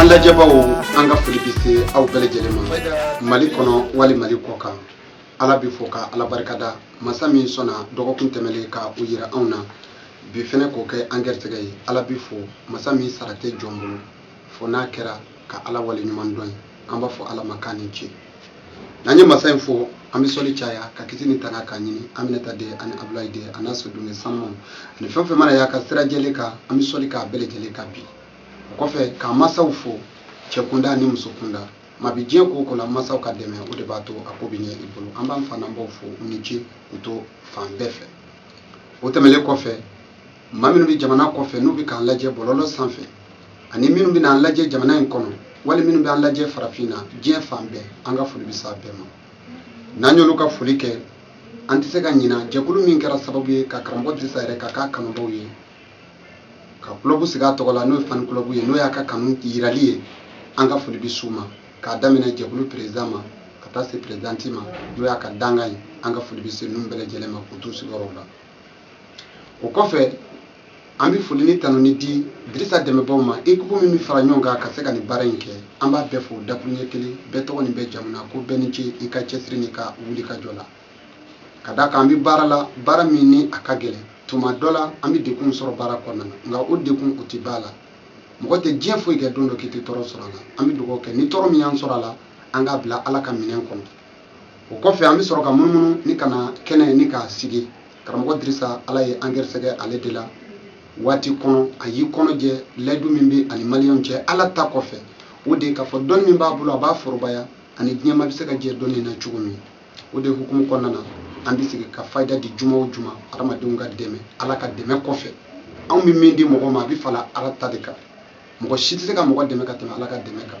an lajɛbaaw an ka foli bɛ se aw bɛɛ lajɛlen ma mali kɔnɔ wali mali kɔ kan ala bɛ fo ka ala barikada masa min sɔnna dɔgɔkun tɛmɛlen ka o yira anw na bi fɛnɛ k'o kɛ an gɛrɛsɛgɛ ye ala bɛ fo masa min sara tɛ jɔn bolo fo n'a kɛra ka ala wale ɲuman dɔn ye an b'a fɔ ala ma k'a ni ce n'an ye masa in fo an bɛ sɔli caya ka kisi ni tanga k'a ɲini aminata den ani abulayi den a n'a so denkɛ sanuma ani fɛn fɛn mana y'a ka sira jɛlen kan an bɛ sɔli k'a bɛɛ lajɛlen kan bi o kɔfɛ k'an masaw fo cɛ kunda ani muso kunda ma bi diɲɛ ko o ko la masaw ka dɛmɛ o de b'a to a ko bɛ ɲɛ i bolo an b'an fa n'an baw fo u ni ce u to fan bɛɛ fɛ o tɛmɛnlen kɔfɛ maa minnu bɛ jamana kɔfɛ n'u bɛ k'an lajɛ bɔlɔlɔ sanfɛ ani minnu bɛna an lajɛ jamana in kɔnɔ wali minnu bɛ an lajɛ farafinna diɲɛ fan bɛɛ an ka foli bɛ s'a bɛɛ ma n'an y'olu ka foli kɛ an tɛ se ka ɲina jɛkulu min kɛra sababu ye ka karamɔgɔ dirisa yɛrɛ ka k'a kanubaw ye ka kulɔbu sigi a tɔgɔ la n'o ye fan kulɔbu ye n'o y'a ka kanu yirali ye an ka foli bɛ s'u ma k'a daminɛ jɛkulu président ma ka taa se présidente ma n'o y'a ka dankan ye an ka foli bɛ se ninnu bɛɛ lajɛlen ma k'u t'u sigiyɔrɔw la o kɔfɛ an bɛ foli ni tanuni di Dirisa dɛmɛbaaw ma équipe min bɛ fara ɲɔgɔn kan ka se ka nin baara in kɛ an b'a bɛɛ fo dakuruɲɛ kelen bɛɛ tɔgɔ ni bɛɛ jamu na ko bɛɛ ni ce i ka cɛsiri n'i ka wulikajɔ la ka d'a kan an bɛ baara la baara min ni a ka gɛlɛn tuma dɔ la an bɛ degun sɔrɔ baara kɔnɔna na nka o degun o tɛ ban la mɔgɔ tɛ diɲɛ foyi kɛ don dɔ k'i tɛ tɔɔrɔ sɔrɔ a la an bɛ dugawu kɛ ni tɔɔrɔ min y'an sɔrɔ a la an k'a bila ala ka minɛn kɔnɔ o kɔfɛ an bɛ sɔrɔ ka munumunu ni ka na kɛnɛ ni k'a sigi karamɔgɔ dirisa ala ye an gɛrɛsɛgɛ ale de la waati kɔnɔ a y'i kɔnɔ jɛ layidu min bɛ a ni maliyɛnw cɛ ala ta kɔfɛ o de ye k'a fɔ dɔnni min b'a bolo a b'a forobaya ani diɲɛ maa bɛ se ka jɛ dɔnni na cogo min o de hukumu kɔnɔna na an bɛ sigi ka fayida di juma o juma adamadenw ka dɛmɛ ala ka dɛmɛ kɔfɛ anw bɛ min di mɔgɔ ma a bɛ fara ala ta de kan mɔgɔ si tɛ se ka mɔgɔ dɛmɛ ka tɛmɛ ala ka dɛmɛ kan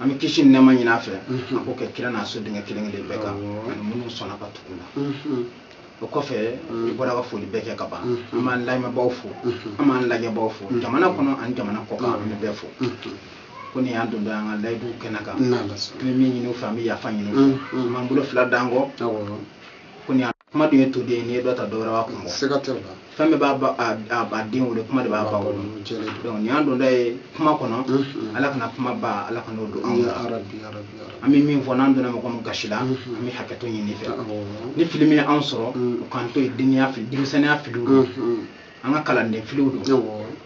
an bɛ kisi ni nɛɛma ɲini a fɛ mhm. a k'o kɛ kira n'a so denkɛ kelen kelen bɛɛ kan ani minnu sɔnna ka tugu u la mhm. o kɔfɛ mhm. i bɔra ka foli bɛɛ kɛ ka ban an b'an lamɛnbaaw fo an b'an lajɛbaaw fo jamana kɔnɔ ani jamana kɔ kan an bɛ bɛɛ fo ko nin y'an dontɔ ye an ka layidu kɛnɛ kan an bɛ min ɲini u fɛ an bɛ yafa ɲini u fɛ an b'an bolo fila d'an kɔ ko nin kuma dun ye toden ye n'i ye dɔ ta dɔwɛrɛ b'a kun bɔ siga tɛ o la fɛn bɛɛ b'a ba a a a den wolo kuma de b'a ba wolo jɛlen don donc nin y'an donda ye kuma kɔnɔ Mhm. ala kana kuma ba ala kana o don anw na ya rabi ya rabi an bɛ min fɔ n'an donna mɔgɔ min gasi la Mhm. an bɛ hakɛto ɲini i fɛ awɔ ni fili min ye anw sɔrɔ Mhm. o k'an to yen denniya fili denmisɛnniya filiw don Mhm. an ka kalanden filiw don awɔ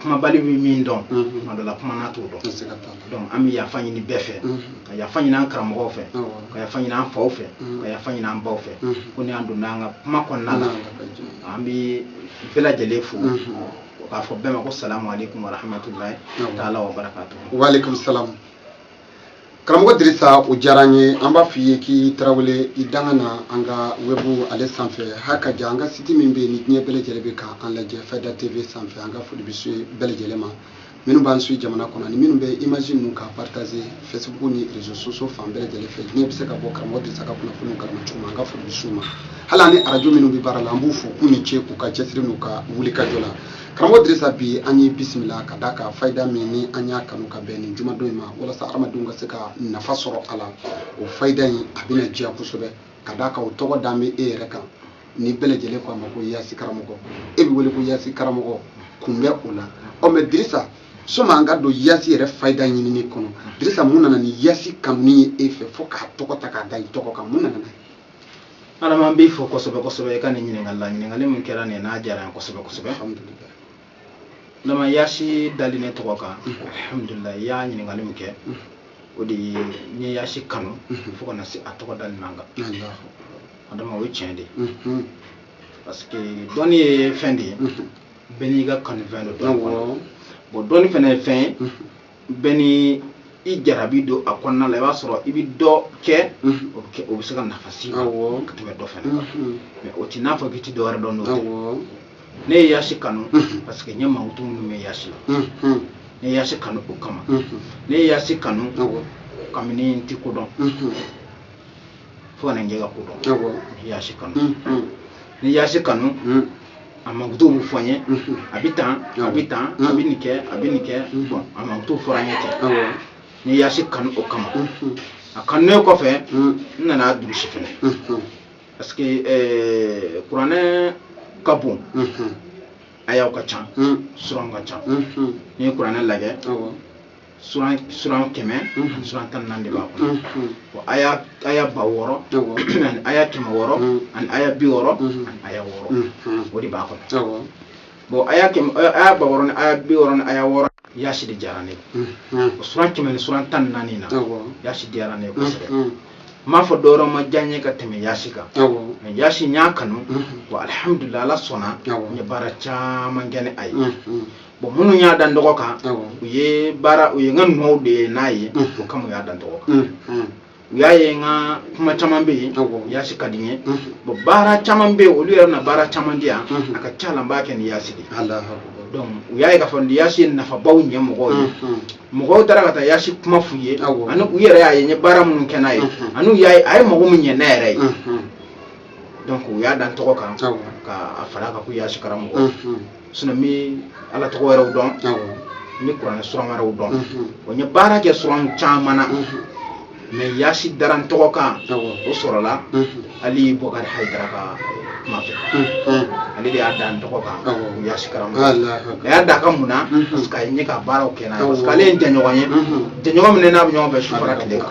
kumabali bɛ min dɔn tuma dɔ la kumana t'o dɔn donc an bɛ yafa ɲini bɛɛ fɛ ka yafa ɲini an karamɔgɔw fɛ ka yafa ɲini an faw fɛ ka yafa ɲini an baw fɛ ko ni an donna an ka kuma kɔnɔna la an bɛ bɛɛ lajɛlen fo k'a fɔ bɛɛ ma ko salamu aleykum wa rahmatulahi taala wa barakatu waaleykum salamu karamɔgɔ dirisa o diyara an ye an b'a f'i ye k'i tarawele i danga na an ka webu ale sanfɛ ha ka ja an ka siti min bɛ yen ni diɲɛ bɛɛ lajɛlen bɛ ka an lajɛ fayida tv sanfɛ an ka foli bɛ se bɛɛ lajɛlen ma minnu b'an suivre jamana kɔnɔ ni minnu bɛ image ninnu ka partager facebook ni réseaux sociaux fan bɛɛ lajɛlen fɛ diɲɛ bɛ se ka bɔ karamɔgɔ dirisa ka kunnafoniw kalama cogo min an ka foli bɛ s'u ma hali an ni arajo minnu bɛ baara la an b'u fo k'u ni ce k'u ka cɛsiri n'u ka wulikajɔ la karamɔgɔ dirisa bi an y'i bisimila ka d'a kan fayida min ni an y'a kanu ka bɛn nin jumadon in ma walasa adamadenw ka se ka nafa sɔrɔ a la o fayida in a bɛna diya kosɛbɛ ka d'a kan o tɔgɔ dalen bɛ e yɛrɛ kan ni bɛɛ lajɛlen ko a ma ko yasi karamɔgɔ e bɛ wele ko yasi karamɔgɔ kun bɛ o la mais dirisa soma an ka don yasi yɛrɛ fayida ɲinini kɔnɔ dirisa mun nana ni yasi kanuni ye e fɛ fo k'a tɔgɔ ta k'a da i tɔgɔ kan mun nana n'a ye adama n b'i fo kosɛbɛ kosɛbɛ i ka nin ɲininkali la ɲininkali min kɛra ne na a diyara n kosɛbɛ kosɛbɛ adama yasi dali ne tɔgɔ kan alhamdulilayi i y'a ɲininkali min kɛ o de ye n ye yasi kanu fo ka na se a tɔgɔ dali ma n kan adama o ye tiɲɛ de ye parce que dɔnni ye fɛn de ye bɛɛ n'i ka kanufɛn dɔ don bon dɔnni fɛnɛ ye fɛn ye bɛɛ ni i jarabi don a kɔnɔna la i b'a sɔrɔ i bɛ dɔ kɛ o bɛ se ka nafa s'i ma ka tɛmɛ dɔ fɛnɛ kan mais o t'i n'a fɔ k'i ti dɔwɛrɛ dɔn n'o tɛ ne ye yasi kanu parce que n ye mankutu minnu mɛn yasi la ne ye yasi kanu o kama ne ye yasi kanu kabini n ti ko dɔn fo ka na n kɛ ka ko dɔn ne ye yasi kanu ne ye yasi kanu a mankutu bɛ fɔ n ye a bɛ tan a bɛ tan a bɛ nin kɛ a bɛ nin kɛ bon a mankutu fɔra n ye ten ne ye yasi kanu o kama a kanunen kɔfɛ n nan'a durusi fɛnɛ parce que eh, kuranɛ ka bon ayaw ka ca suranw ka ca n'i ye kuranɛ lajɛ suran suran kɛmɛ ani suran tan ni naani de b'a kɔnɔ bon aya aya ba wɔɔrɔ ani aya kɛmɛ wɔɔrɔ ani aya bi wɔɔrɔ ani aya wɔɔrɔ o de b'a kɔnɔ bon aya kɛmɛ aya ba wɔɔrɔ ni aya bi wɔɔrɔ ni aya wɔɔrɔ yasi de diyara ne o suran kɛmɛ ni suran tan ni naani na yasi diyara ne kosɛbɛ n m'a fɔ dɔwɛrɛ ma diya n ye ka tɛmɛ yasi kan mais yasi n y'a kanu bon alihamudulila ala sɔnna n ye baara caman kɛ ni a ye bon minnu y'a da n tɔgɔ kan u ye baara u ye n ka nɔw de ye n'a ye o kama u y'a da n tɔgɔ kan u y'a ye n ka kuma caman bɛ yen yasi ka di n ye bon baara caman bɛ yen olu yɛrɛ bɛna baara caman di yan a ka ca la n b'a kɛ ni yasi de donc u y'a ye k'a fɔ ni yasi ye nafabaw ɲɛ mɔgɔw ye mɔgɔw taara ka taa yasi kuma f'u ye ani u yɛrɛ y'a ye n ye baara minnu kɛ n'a ye ani u y'a ye a ye mago min ɲɛ ne yɛrɛ ye donc u y'a da n tɔgɔ kan ka a fara a kan ko yasi karamɔgɔ sinon n bɛ ala tɔgɔ wɛrɛw dɔn n bɛ kuranɛ suran wɛrɛw dɔn o n ye baara kɛ suran caman na mais yasi dara n tɔgɔ kan o sɔrɔla ali bɔkari hayidara ka kuma fɛ ale de y'a da n tɔgɔ kan yasi karamɔgɔ a y'a da a kan mun na parce que a ye n ye ka baaraw kɛ n'a ye parce que ale ye n jɛɲɔgɔn ye jɛɲɔgɔn min ne n'a bɛ ɲɔgɔn fɛ su fara tile kan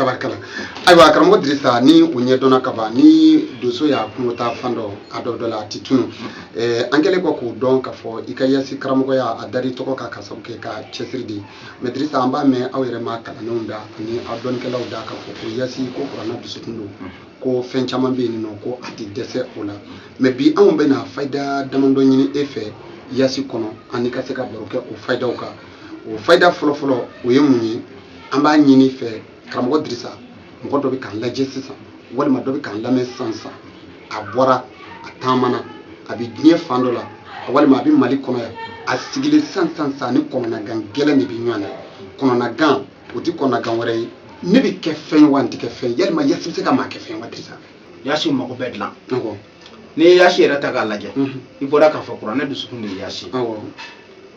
tabarikala ayiwa karamɔgɔ dirisa ni o ɲɛdɔnna ka ban ni donso y'a kungo taa fan dɔn a dontɔ la a ti tunun eh, an kɛlen kɔ k'o dɔn k'a fɔ i ka yasi karamɔgɔya a dara i tɔgɔ kan k'a sabu kɛ i ka cɛsiri de ye mais dirisa an b'a mɛn aw yɛrɛ maa kalannenw da ani aw dɔnnikɛlaw da k'a fɔ ko yasi ko kuranɛ dusukun don ko fɛn caman bɛ yen n'u ko a tɛ dɛsɛ o la mais bi anw bɛna fayida damadɔ ɲini e fɛ yasi kɔnɔ ani ka se ka baro kɛ o fayidaw kan o fayida fɔlɔfɔlɔ o ye mun ye an b'a ɲini i fɛ karamɔgɔ dirisa mɔgɔ dɔ bɛ k'an lajɛ sisan walima dɔ bɛ k'an lamɛn sisan sisan a bɔra a taamana a bɛ diɲɛ fan dɔ la walima a bɛ mali kɔnɔ yan a sigilen sisan sisan sisan ni kɔnɔnagan gɛlɛn de bɛ ɲɔgɔn na kɔnɔnagan o tɛ kɔnɔnagan wɛrɛ ye ne bɛ kɛ fɛn ye wa n tɛ kɛ fɛn ye yalima yasi bɛ se ka maa kɛ fɛn ye wa dirisa yasi mago bɛɛ dilan n'i ye yasi yɛrɛ ta k'a lajɛ i bɔra k'a fɔ kuranɛ dusukun de ye yasi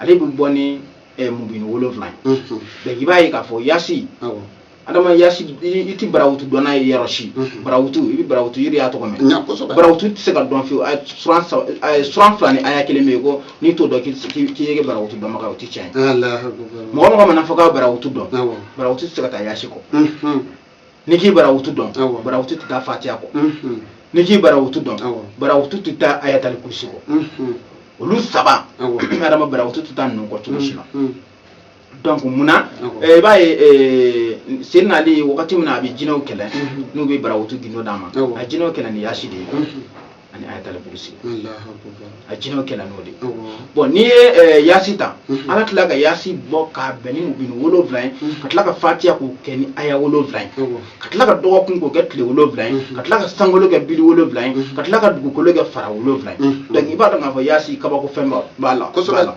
ale bɛ bɔ ni eh, mubini wolonwula ye Mhm. donc i b'a ye k'a fɔ yasi Awɔ. adama yasi i i ti barawutu dɔn n'a ye yɔrɔ si Mhm. barawutu i bɛ barawutu yɛrɛ i y'a tɔgɔ mɛn N y'a kosɛbɛ. barawutu tɛ se ka dɔn fiyewu a suran saba a suran fila ni aya kelen bɛ yen ko n'i t'o dɔn k'i tɛ se- k'i k'i ye barawutu dɔnbaga ye, o tɛ tiɲɛ ye Alahu akibaru. mɔgɔ mɔgɔ man'a fɔ k'a barawutu dɔn Awɔ. barawutu tɛ se ka taa yasi kɔ Mhm. n'i k'i barawutu dɔn barawutu tɛ taa fatiya kɔ n'i k'i barawutu dɔn barawutu tɛ taa ayatali kurusi kɔ olu saba adama barawutu tɛ taa ninnu kɔ cogo si la donc munna i b'a ye seyina ali wagati min na a bɛ jinɛw kɛlɛ n'u bɛ barawutu gundo d'a ma a jinɛw kɛlɛ ni yasi de ye ani ayatal kursi a jinɛw kɛlɛ n'o de ye bon n'i ye eh, yasi ta mhm. ala tila ka yasi bɔ k'a bɛn ni mubini wolonwula ye mhm. ka tila ka fatiya k'o kɛ ni aya wolonwula ye ka tila ka dɔgɔkun k'o kɛ tile wolonwula ye mhm. ka tila ka sankolo kɛ bili wolonwula ye ka tila ka dugukolo kɛ fara wolonwula ye donc i b'a dɔn k'a fɔ yasi kabako fɛn b'a la kosɛbɛ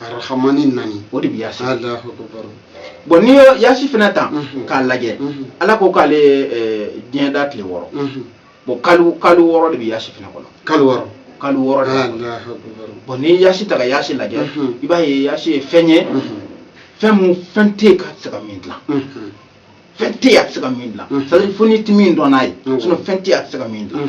arahamani naani o de bɛ yasi alahu akubaru bon n'i ye yasi fana ta mhm. k'a lajɛ mhm. ala ko k'ale ye diɲɛ da tile wɔɔrɔ mhm. bon kalu kalu wɔɔrɔ de bɛ yasi fana kɔnɔ kalu wɔɔrɔ kalu wɔɔrɔ de bon n'i ye yasi ta ka yasi lajɛ i b'a ye yasi ye fɛn ye fɛn mun fɛn tɛ yen k'a tɛ se ka min dilan fɛn tɛ yen a tɛ se ka min dilan c'est à dire fo n'i tɛ min dɔn n'a ye sinon fɛn tɛ yen a tɛ se ka min dilan.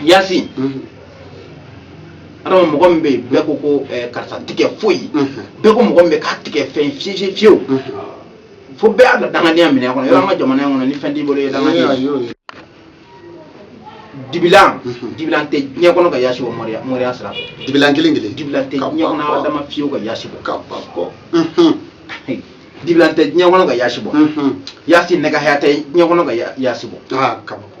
yasi adama mɔgɔ min bɛ yen bɛɛ ko ko eh, karisa tɛ kɛ foyi bɛɛ ko mɔgɔ min bɛɛ k'a tɛ kɛ fɛn ye fiyewu fo bɛɛ y'a ka dangadenya minɛ a kɔnɔ yɔrɔ an ka jamana in kɔnɔ ni fɛn t'i bolo i ye dangaden ye. dibilan dibilan tɛ diɲɛ kɔnɔ ka yasi bɔ mɔriya mɔriya sira fɛ dibilan kelen kelen dibilan tɛ diɲɛ kɔnɔ adama fiyewu ka yasi bɔ kabako dibilan tɛ diɲɛ kɔnɔ ka yasi bɔ yasi nɛgɛ haya tɛ diɲɛ kɔnɔ ka ya- yasi bɔ kabako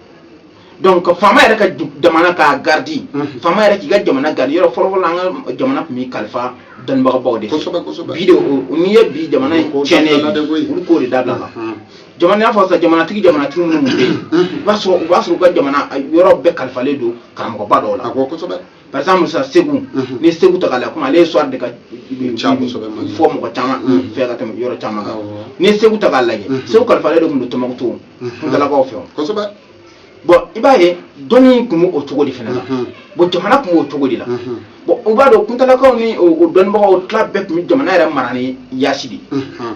donc faama yɛrɛ ka ju- jamana k'a garidi Mhm. faama yɛrɛ k'i ka jamana garidi yɔrɔ fɔlɔfɔlɔ an ka jamana tun bɛ kalifa dɔnnibagabaw de fɛ. Kosɛbɛ, kosɛbɛ. bi de o- o- n'i ye bi jamana in Ko tiɲɛnen dabila de koyi. ye olu ko de dabilala Mhm. jamana n'a fɔ sa jamanatigi jamanatigi minnu bɛ yen i b'a sɔrɔ u b'a sɔrɔ u ka jamana yɔrɔ bɛɛ kalifalen don karamɔgɔba dɔw la a ko kosɛbɛ par exemple sa segu Mhm. n'i ye segu ta k'a la comme ale histoire de ka Ca kosɛbɛ, Mali. fɔ mɔgɔ caman Mhm. fɛ ka tɛmɛ yɔrɔ caman kan Awɔ. n'i ye segu ta k'a lajɛ Mhm. segu kalifalen de tun don tɔmɔkutu Mhm. kuntalakaw fɛ o. kosɛbɛ bon i b'a ye dɔnni tun b'o cogo de fana na Mhm. bon jamana tun b'o cogo de la Mhm. bon u b'a dɔn kuntalakaw ni o o dɔnnibagaw tila bɛɛ tun bɛ jamana yɛrɛ mara ni yaasi de ye Mhm.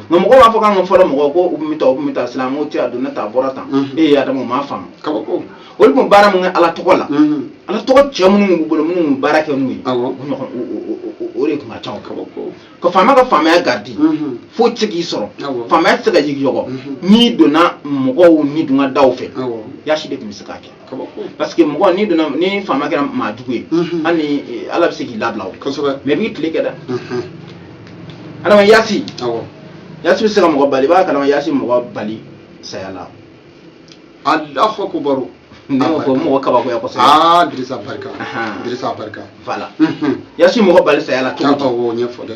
nka mɔgɔ b'a fɔ k'an ka fɔlɔ mɔgɔ ko u tun bɛ taa u tun bɛ taa sisan ko cɛ a donna tan a bɔra tan e adama u m'a faamu kabako olu tun baara min kɛ ala tɔgɔ la ala tɔgɔ cɛ minnu tun b'u bolo minnu tun bɛ baara kɛ n'u ye o de tun ka ca kabako ka faama ka faamaya garidi foyi tɛ k'i sɔrɔ faamaya tɛ se ka yigiyɔgɔ n'i donna mɔgɔw ni dun ka da fɛ yasi de tun bɛ se k'a kɛ parce que mɔgɔ ni donna ni faama kɛra maajugu ye Mhm. hali ni eh, ala bɛ se k'i labila o kosɛbɛ mais i b'i tile kɛ dɛ Mhm. adama yasi awɔ yasi bɛ se ka mɔgɔ bali i b'a kalama yasi mɔgɔ bali saya la alahu akubaru ne ko ko mɔgɔ kabakoya kosɛbɛ aa dirisa barika Ahan. dirisa barika voilà Mhm. yasi mɔgɔ bali saya la cogo t'a di fɔ o ɲɛfɔ dɛ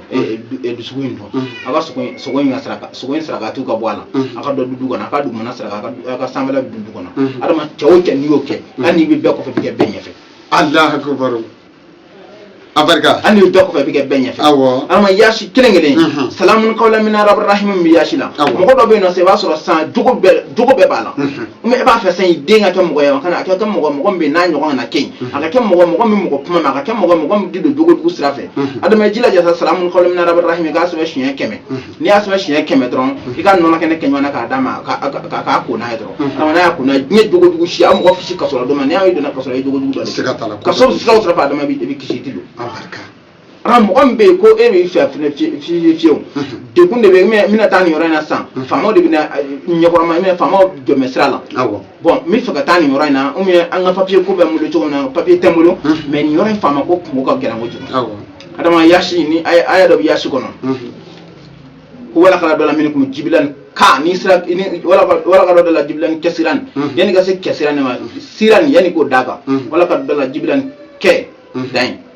dusukun in dun a ka sogo in ka saraka sogo in saraka dɔ ka bɔ a la a ka dɔ dun du kɔnɔ a ka dugumana saraka a ka sanfɛla dun du kɔnɔ adama cɛ o cɛ n'i y'o kɛ hali n'i bɛ bɛɛ kɔfɛ i bɛ kɛ bɛɛ ɲɛfɛ alahu akubaru a barika hali n'i bɛ bɛɛ kɔfɛ i bɛ kɛ bɛɛ ɲɛfɛ awɔ adama yaasi kelen kelen salamun kawlan min rabi rahimu min bɛ yaasi la mɔgɔ dɔ bɛ yen nɔ sisan i b'a sɔrɔ sɔn jugu bɛɛ jogo bɛɛ b'a la mais e b'a fɛ san den ka kɛ mɔgɔ ye kana a kɛ kɛ mɔgɔ mɔgɔ min n'a ɲɔgɔn kana kɛ a ka kɛ mɔgɔ mɔgɔ min mɔgɔ kuma na a ka kɛ mɔgɔ mɔgɔ min di don jogojugu sira fɛ adama jilaja sa salamun qawlan min rabbir rahim k'a sɛbɛn siɲɛ kɛmɛ n'i y'a sɛbɛn siɲɛ kɛmɛ dɔrɔn i ka nɔnɔ kɛnɛ kɛ ɲɔgɔn k'a d'a ma k'a ko n'a ye dɔrɔn kana y'a kun diɲɛ jogojugu si a mɔgɔ fisi ka sɔrɔ dɔn n'i y'a donna ka sɔrɔ i jogojugu dɔ ka sɔrɔ siraw sɔrɔ adama i bɛ kisi di don an mɔgɔ min bɛ yen ko e b'i fɛ fana fiye fiye fiyew degun de bɛ n bɛna taa nin yɔrɔ in na sisan faamaw de bɛna ɲɛkɔrɔma n bɛna faamaw tɛmɛ sira la awɔ bon n bɛ fɛ ka taa nin yɔrɔ in na ou bien an ka papiye ko bɛ n bolo cogo min na papiye tɛ n bolo mais nin yɔrɔ in faama ko kunko ka gɛlɛn kojugu awɔ adama yasin aya aya dɔ bɛ yasi kɔnɔ ko walaqad adalla minkum jibilan ka ni siran wala ka- walaqad adalla jibilan kɛsiran Mhm. yanni ka se kɛsiran ma siran yanni k'o d'a kan Mhm. walaqad adalla jibilan kɛ Mhm. dan yen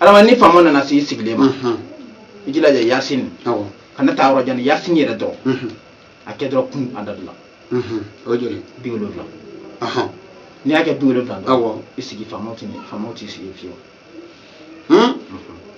adama ni faama nana se i sigilen ma i jilaja yasin kana taa yɔrɔ jan yasin yɛrɛ dɔrɔn a kɛ dɔrɔn kun adadu la o joli bi wolonwula n'i y'a kɛ bi wolonwula dɔrɔn i sigi faamaw t'i sigi fiyewu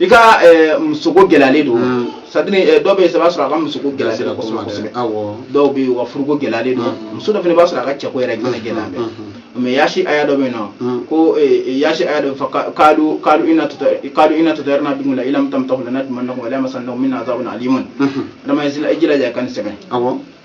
i ka eh, muso ko gɛlɛyalen don mm. c'est-à-dire eh, dɔw bɛ yen i b'a sɔrɔ a ka muso ko gɛlɛyalen don kosɛbɛ kosɛbɛ dɔw bɛ yen u ka furuko gɛlɛyalen don mm. muso dɔ fana b'a sɔrɔ a ka cɛko yɛrɛ gɛlɛn mm. gɛlɛyalen bɛ mais yasi aya dɔ bɛ yen nɔ ko eh, yasi aya dɔ fɔ kalu kalu ina tuta kalu ina tutayarna bikum la ilam tamtahu lanarjumannakum wa lamasannakum minna azabun alimun adama yasila i jilaja ka nin sɛbɛn awɔ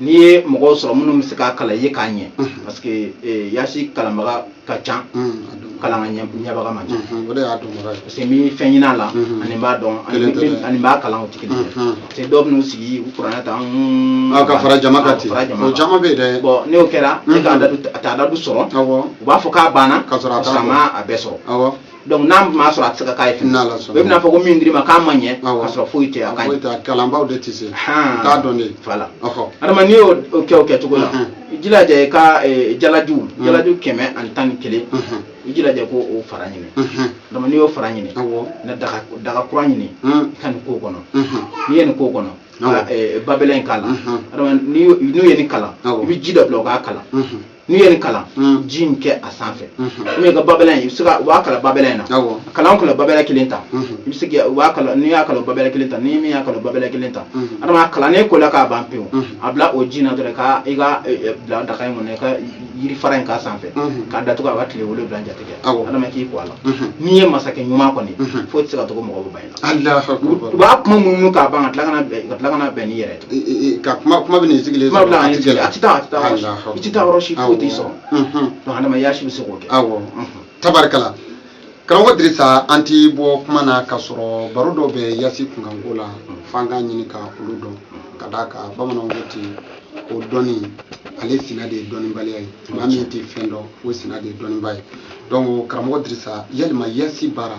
n'i ye mɔgɔw sɔrɔ minnu bɛ se k'a kalan i ye k'a ɲɛ mhm. parce que eh, yasi kalanbaga ka ca mhm, kalan ka ɲɛbaga man ca mhm, o de y'a dɔnbaga ye parce que n bɛ fɛn ɲini a la ani n b'a dɔn ani n b'a kalan o tɛ kelen ye parce que dɔw bɛn'u sigi u kuranɛ ta ah, ka fara jama kan ten o caman bɛ yen dɛ bon n'o kɛra ne ka adadu a t'adadu sɔrɔ u b'a fɔ k'a banna ka sɔrɔ a ma a bɛɛ sɔrɔ donc n'a m'a sɔrɔ a tɛ se ka k'a ye fɛnɛ. N'Ala sɔnna. i bɛna fɔ ko min dir'i ma k'a ma ɲɛ Awɔ. k'a sɔrɔ foyi tɛ a ka Foyi ɲi t'a kalanbaaw de tɛ se Han. u t'a dɔn de voilà ɔhɔ adama n'i y'o o kɛ o kɛcogo la Mhm. i jilaja i ka eh, jalaju Mhm. jalaju kɛmɛ ani tan ni kelen Mhm. i jilaja i k'o o fara ɲini Mhm. adama n'i y'o fara ɲini awɔ na daga daga kura ɲini Mhm. i ka nin k'o kɔnɔ Mhm. n'i ye nin k'o kɔnɔ Awɔ. ka eh, babɛlɛ in k'a la Mhm. adama n'i y'o- n'u ye nin kalan Awɔ. i bɛ ji dɔ bila o k'a kalan Mhm. n'u ye nin kalan mm. ji in kɛ a sanfɛ mm-hmm. i ka babɛlɛ in i bɛ se ka u b'a kalan babɛlɛ in na kalan o kalan babɛlɛ kelen ta mm-hmm. i bɛ se ka u b'a kalan n'i y'a kalan babɛlɛ kelen ta ni min y'a kalan babɛlɛ kelen ta mm-hmm. adama a kalannen ko la k'a ban pewu a bila o ji in na dɔrɔn ka i ka e, e, bila daga in kɔnɔ i ka yiri fara in k'a sanfɛ k'a datugu a ka tile wolonwula jate kɛ adama k'i ko a la n'i ye masakɛ ɲuman kɔni foyi tɛ se ka tɔgɔ mɔgɔ bɛ ban Allah u b'a kuma minnu k'a ban ka tila kana bɛn ka tila kana bɛn n'i yɛrɛ ye. I- i- i- ka kuma kuma bɛ nin sigilen Kuma bila a tɛ gɛlɛya. a tɛ taa a tɛ taa yɔrɔ si- Allahu i tɛ taa yɔrɔ si foyi t'i sɔrɔ Awɔ. Mhm. donc adama yasi bɛ se k'o kɛ awɔ Mhm. tabarikala karamɔgɔ dirisa an ti bɔ kuma na ka sɔrɔ baro dɔw bɛ yasi kunkanko la f'an k'a ɲini ka olu dɔn ka d'a kan bamananw ko ten o dɔnni ale sina de ye dɔnnibaliya ye maa min tɛ fɛn dɔn o sina de ye dɔnniba ye donc karamɔgɔ dirisa yalima yasi baara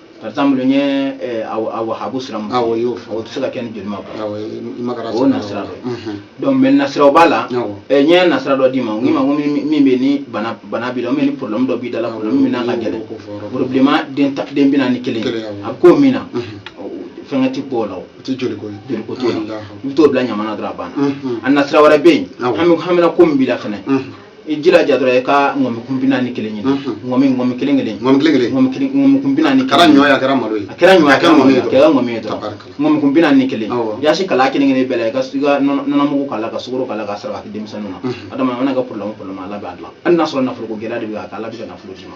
par exemple n ye eh, wahabu sira min awɔ y'o fɔ o tɛ se ka kɛ ni joli ma bɔ awɔ i ma kɛra o nasira dɔ ye donc mais nasiraw b'a la n ye nasira dɔ d'i ma n k'i ma ko min bɛ ni bana bana b'i la ni problème dɔ b'i da la problème min n'a ka gɛlɛn problème den ta den bi naani kelen a bɛ k'o min na fɛnkɛ ti bɔ o la o tɛ joli ko ye joli ko t'o la i bɛ t'o bila ɲama na dɔrɔn a banna a nasira wɛrɛ bɛ yen hami hamina ko min b'i la fɛnɛ i jilaja dɔrɔn i ka ŋɔmi kun bi naani kelen ɲini ŋɔmi ŋɔmi kelen kelen ŋɔmi kelen kelen ŋɔmi kelen ŋɔmi kun bi naani kɛra ɲɔ ye a kɛra malo ye a kɛra ɲɔ ye a kɛra ŋɔmi ye a kɛra ŋɔmi ye dɔrɔn ŋɔmi kun bi naani kelen yasi kalan kelen kelen bɛɛ la i ka i ka nɔnɔmugu k'a la ka sukoro k'a la ka saraka kɛ denmisɛnninw na adama an ka problème problème ala b'a dilan hali n'a sɔrɔ nafolo ko gɛlɛya de bɛ a kan ala bɛ ka nafolo d'i ma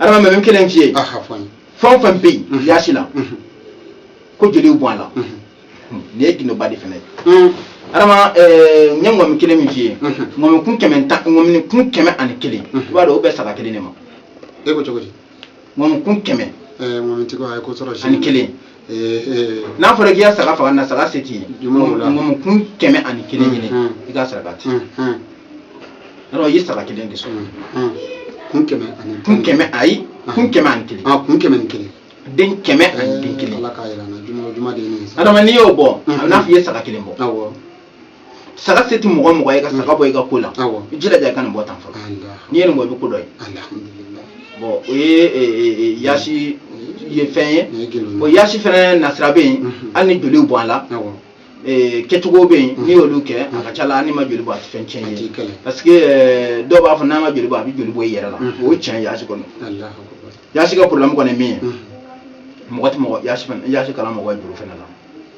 adama n bɛ min kelen f'i ye aha fɔ n ye fɛn o fɛn bɛ yen Mhm. yaasi la Mhm. ko joliw bɔ a la Mhm. nin ye gindoba de fana ye Mhm. adama ɛɛ, n ye ŋɔmi kelen min f'i ye Mhm. ŋɔmi kun kɛmɛ tan ŋɔmi kun kɛmɛ ani kelen Mhm. i b'a dɔn o bɛ saga kelen de ma e ko cogo di ŋɔmi kun kɛmɛ ɛɛ ŋɔmitigi a ye ko sɔrɔ ani kelen n'a fɔra k'i ka saga faga n'a saga se t'i ye ŋɔmi kun kɛmɛ ani kelen ɲini i k'a saraka ten alors i ye saga kelen de sɔrɔ kun kɛmɛ ani kun kɛmɛ ayi kun kɛmɛ ani kelen kun kɛmɛ ani kelen den kɛmɛ ani den kelen adama n'i y'o bɔ a bɛ n'a fɔ i ye saga kelen bɔ saga se tɛ mɔgɔ mɔgɔ ye ka saga bɔ i ka ko la i jilaja i ka nin bɔ tan fɔlɔ n'i ye nin bɔ i bɛ ko dɔ ye bon o ye yaasi ye fɛn ye o yaasi fana nasira bɛ yen hali ni joliw bɔ a la kɛcogo bɛ yen n'i y'olu kɛ a ka ca la n'i ma joli bɔ a tɛ fɛn cɛn ye parce que dɔw b'a fɔ n'a ma joli bɔ a bɛ joli bɔ i yɛrɛ la o ye cɛn yaasi kɔnɔ yaasi ka problème kɔni min ye mɔgɔ tɛ mɔgɔ yaasi kalan mɔgɔ ye juru fana la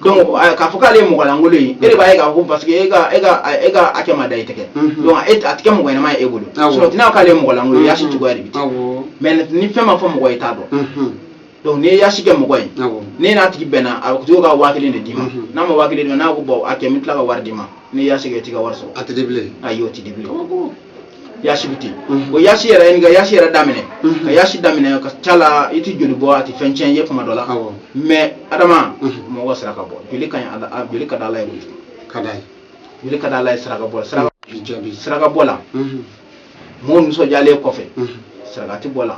donc k'a fɔ k'ale ye mɔgɔ lankolon ye e de b'a ye k'a fɔ parce que e ka e ka e ka hakɛ ma da i tɛgɛ donc a tɛ kɛ mɔgɔ ɲɛnama ye e bolo sinon t'i n'a fɔ k'ale ye mɔgɔ lankolon ye yasi cogoya de bɛ ten mais ni fɛn ma fɔ mɔgɔ ye t'a dɔn donc n'i ye yasi kɛ mɔgɔ ye n'e n'a tigi bɛnna a bɛ to ka waa kelen de d'i ma n'a ma waa kelen d'i ma n'a ko bon a kɛ n bɛ tila ka wari d'i ma n'i ye yasi kɛ i t'i ka wari sɔrɔ a tɛ di bilen ayi o tɛ di bilen yasi bɛ ten o yasi yɛrɛ ye ka yasi yɛrɛ daminɛ ka yasi daminɛ ka ca la i tɛ joli bɔ a tɛ fɛn tiɲɛ ye kuma dɔ la Awɔ. mais adama mɔgɔ saraka bɔ joli ka ɲi Ala- a- joli ka di ala ye kojugu ka d'a ye joli ka di ala ye saraka bɔ saraka bi jaabi saraka bɔ la Mhm. mɔgɔ nisɔndiyalen kɔfɛ Mhm. saraka tɛ bɔ la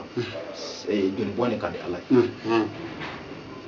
eh, joli bɔn de ka di ala ye Mhm.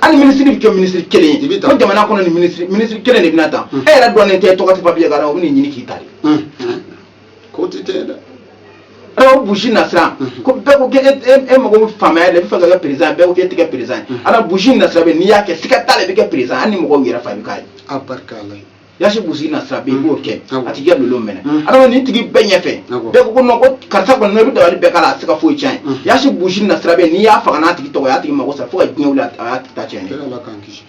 hali minisiri bɛ kɛ minisiri kelen ye ko jamana kɔnɔ ni minisiri kelen de bɛna ta e yɛrɛ dɔnnen tɛ tɔgɔ tɛ papiye kan o bɛ n'i ɲini k'i ta de k'o tɛ tɛ dɛ a la buji nasira ko bɛɛ ko e mago bɛ faamaya de bɛ fɛ ka kɛ perezan bɛɛ ko e tɛ kɛ perezan a la buji nasira bɛ n'i y'a kɛ siga t'a la e bɛ kɛ perezan hali ni mɔgɔw yɛrɛ fa bɛ k'a ye yasi buji nasira bɛ i b'o kɛ Awɔ. a tigi ka lolo mɛnɛ Mm. adama nin tigi bɛɛ ɲɛfɛ Awɔ. bɛɛ ko ko non ko karisa kɔni n'o bɛ dabali bɛɛ k'a la a tɛ se ka foyi tiɲɛ Mm. ye yasi buji nasira bɛ n'i y'a faga n'a tigi tɔgɔ y'a tigi mago sa fo ka diɲɛ wuli a a y'a tigi ta tiɲɛ ne ala k'an kisi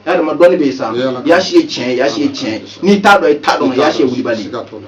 adama dɔnni bɛ yen sa Ee, Ala ka- yasi ye tiɲɛ ye yasi ye tiɲɛ ye n'i t'a dɔn i t'a dɔn yasi ye wulibali ye. Siga t'o la.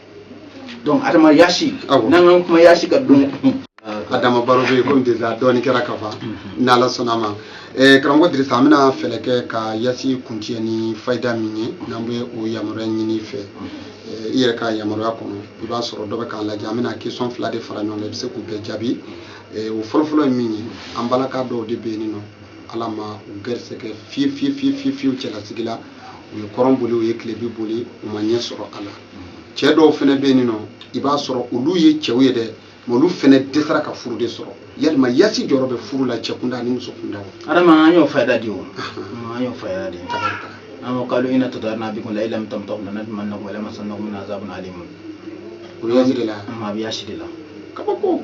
donc adama yasi Awɔ. n'an k'an kuma yasi kan dun adama baro bɛ yen komi déjà dɔɔni kɛra ka ban ni ala sɔnna a ma Eh, karamɔgɔ dirisa an bɛna fɛɛrɛ kɛ ka yasi kuncɛ ni fayida min ye n'an bɛ o yamaruya ɲini i fɛ Eh, i yɛrɛ ka yamaruya kɔnɔ i b'a sɔrɔ dɔ bɛ k'an lajɛ an bɛna question fila de fara ɲɔgɔn kan i bɛ se k'u bɛɛ jaabi Eh, o fɔlɔfɔlɔ ye min ye an balaka dɔw de bɛ yen nin nɔ ala ma u gɛrisɛgɛ fiye fiye fiye fiye fiyew cɛlasigi la u ye kɔrɔn boli u ye tilebin boli u ma ɲɛ sɔrɔ a la cɛ dɔw fana bɛ yen nɔ i b'a sɔrɔ olu ye cɛw ye dɛ mais olu fana dɛsɛra ka furu de sɔrɔ yalima yasi jɔyɔrɔ bɛ furu la cɛ kunda ni muso kunda adama an y'o fayida di o an y'o fayida di an ko kalu ina tatayarna bikum la in lam tantahu lanarjumannakum walayamasannakum minna azabun alimu o yasi de la a bi yasi de la kabako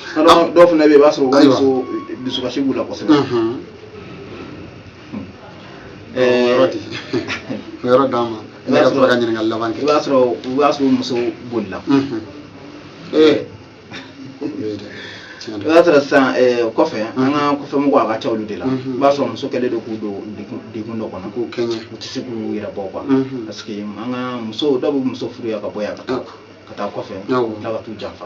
Dɔw dɔw fana bɛ yen i b'a sɔrɔ wari so dusukasi b'u la kosɛbɛ yɔrɔ d'a ma ne ka sɔrɔ ka ɲininkali laban kɛ i b'a sɔrɔ u b'a sɔrɔ muso bolila ee i b'a sɔrɔ sisan kɔfɛ an ka kɔfɛ mɔgɔw a ka ca olu de la i b'a sɔrɔ muso kɛlen don k'u don degun dɔ kɔnɔ k'u kɛɲɛ u tɛ se k'u yɛrɛ bɔ quoi parce que an ka muso dɔw bɛ muso furu yan ka bɔ yan ka taa ka taa kɔfɛ tila ka t'u janfa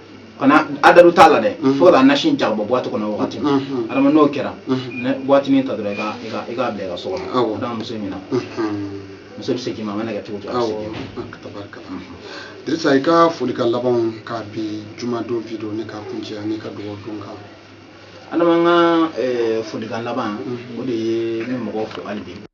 kana adalu t'a la dɛ mhm. fo ka nasi ja ka bɔ boite kɔnɔ wagati mhm. adama n'o kɛra mhm. boitinin ta dɔrɔn i k'a bila i ka so kɔnɔ adama muso ɲina muso bɛ segin i ma a mana kɛ cogo cogo a bɛ segin i ma tabarikala dirisa i ka folikan labanw ka bi jumadon video nin ka kuncɛ ani ka dugawu don kan adama n ka eh, folikan laban o de ye ne mɔgɔw fo hali bi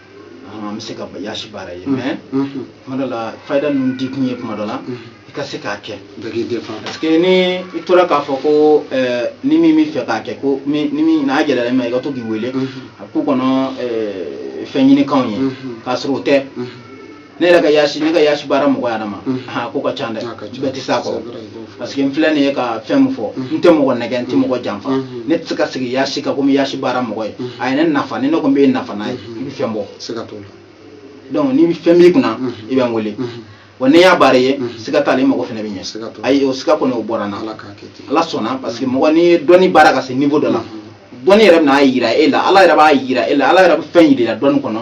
an bɛ se ka yasi baara ye mais kuma dɔ la fayida ninnu di kun ye kuma dɔ la i ka se k'a kɛ parce que ni i tora k'a fɔ ko ni min bɛ fɛ k'a kɛ ko n'a gɛlɛyara i ma i ka to k'i wele a ko kɔnɔ fɛn ɲinikan ye k'a sɔrɔ o tɛ ne yɛrɛ ka yaasi ne ka yaasi baara mɔgɔ yɛrɛ ma ha ko ka ca dɛ bɛɛ tɛ s'a kɔrɔ parce que n filɛ nin ye ka fɛn min fɔ n tɛ mɔgɔ nɛgɛn n tɛ mɔgɔ janfa ne tɛ se ka sigi yaasi kan ko n bɛ yaasi baara mɔgɔ ye a ye ne nafa ni ne kɔni bɛ nafa n'a ye i bɛ fɛn bɔ donc ni fɛn b'i kunna i bɛ n wele wa n'i y'a baara ye siga t'a la mɔgɔ fana bɛ ɲɛ ayi o siga kɔni o bɔra n na ala sɔnna parce que mɔgɔ n'i ye dɔnni baara ka se niveau dɔ la dɔnni yɛrɛ bɛna a jira e la ala yɛrɛ b'a jira e la ala yɛrɛ bɛ fɛn jira dɔnni kɔnɔ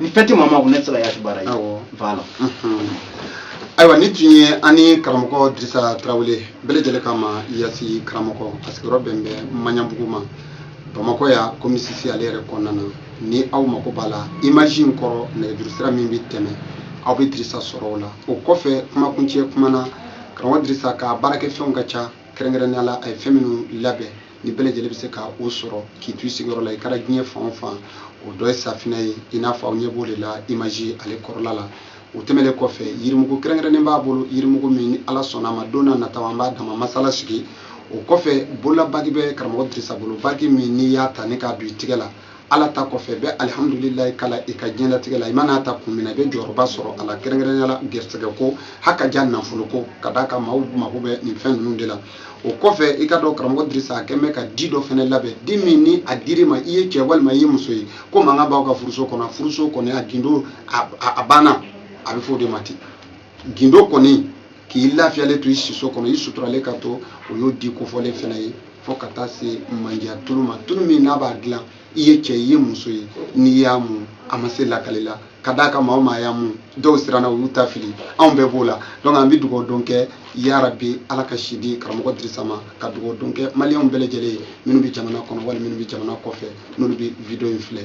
ni fɛn tɛ maa ma ko ne tɛ se ka yasi baara ye awɔ voilà ayiwa nin tun ye an ni karamɔgɔ dirisa tarawele bɛɛ lajɛlen k'a ma yasi karamɔgɔ a sigiyɔrɔ bɛn bɛ maɲanbugu ma bamakɔ yan komini sisi ale yɛrɛ kɔnɔna na ni aw mako b'a la imaji in kɔrɔ nɛgɛjuru sira min bɛ tɛmɛ aw bɛ dirisa sɔrɔ o la o kɔfɛ kumakuncɛ kuma na karamɔgɔ dirisa ka baarakɛfɛnw ka ca kɛrɛnkɛrɛnnenya la a ye fɛn minnu labɛn ni bɛɛ lajɛlen bɛ se ka o sɔrɔ k'i to i sigiyɔrɔ la i kɛra diɲɛ fan o fan o dɔ ye safinɛ ye i n'a fɔ aw ɲɛ b'o de la imaji ale kɔrɔla la o tɛmɛnen kɔfɛ yirimugu kɛrɛnkɛrɛnnen b'a bolo yirimugu min ni ala sɔnna a ma don n'a nataw an b'a dama masala sigi o kɔfɛ bololabagi bɛ karamɔgɔ dirisa bolo bagi min n'i y'a ta ni k'a don i tigɛ la ala ta kɔfɛ bɛ alihamdulilayi kalan i ka diɲɛlatigɛ la i man'a ta kun min na i bɛ jɔyɔrɔba sɔrɔ a la kɛrɛnkɛrɛnya la gɛrɛsɛgɛ ko ha ka ja nafolo ko ka d'a kan maaw mago bɛ nin fɛn ninnu de la o kɔfɛ i ka dɔn karamɔgɔ dirisa a kɛn bɛ ka di dɔ fana labɛn di min ni a dir'i ma i ye cɛ walima i ye muso ye ko mankan b'aw ka furuso kɔnɔ furuso kɔnɔ a gindo a banna a bɛ fɔ o de ma ten gindo kɔni k'i lafiyalen to i siso kɔnɔ i suturalen ka to o y'o di kofɔlen fana ye fo ka taa se mandiya tulu ma tulu min n'a b'a dilan i ye cɛ i ye muso ye n'i y'a mun a ma se lakali la ka d'a kan maa o maa y'a mun dɔw siranna u y'u ta fili anw bɛɛ b'o la donc an bɛ dugawu don kɛ yarabi ala ka si di karamɔgɔ dirisa ma ka dugawu don kɛ maliyɛnw bɛɛ lajɛlen ye minnu bɛ jamana kɔnɔ wala minnu bɛ jamana kɔfɛ n'olu bɛ video in filɛ